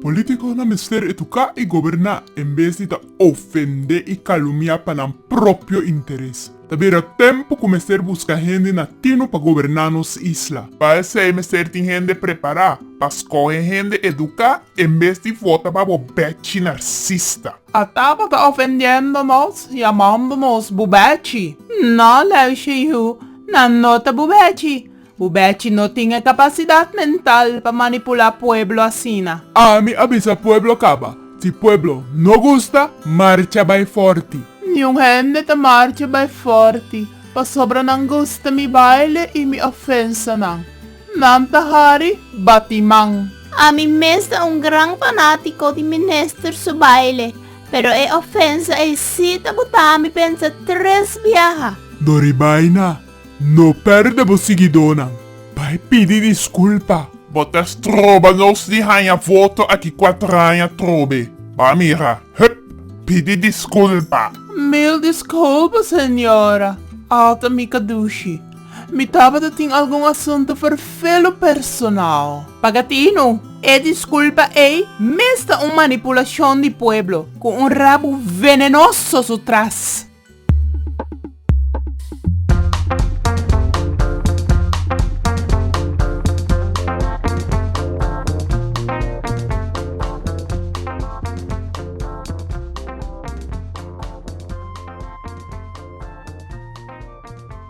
Politiconan mester educa y goberna en bes di ta ofende y calumia pa nan propio interes. Ta bira tempo cu mester busca hende natino pa goberna nos isla. Pa esey mester tin hende prepara pa scoge hende educa en bes di vota pa bo bechi narcisista. A tabata ofendiendo nos, yamando nos bubechi. No, Leu Xinhu, nan no ta bubechi. Bubechi no tin e capacidad mental pa manipula pueblo asina. Ami a bisa pueblo caba. Si pueblo no gusta, marcha bay forti. Niun hende ta marcha bay forti, pasobra nan gusta mi baile y mi ofensa nan. Nan ta hari batiman. Ami mes ta un gran fanático di Minister su baile, pero e ofensa ei sí ta botá mi pensa tres biaha. Doribaina, no perde bo siguidónan. Bai pidi disculpa. Bo ta stroba nos di haña voto aki kuatraña trobe. Bai mira, hup! Pidi disculpa. Mil disculpa, señora. Alta mi kadushi. Mi tabata tin algun asuntu ferfelu personal. Pagatino, E disculpa ey mes ta un manipulacion di pueblo cu un rabu venenoso su tras.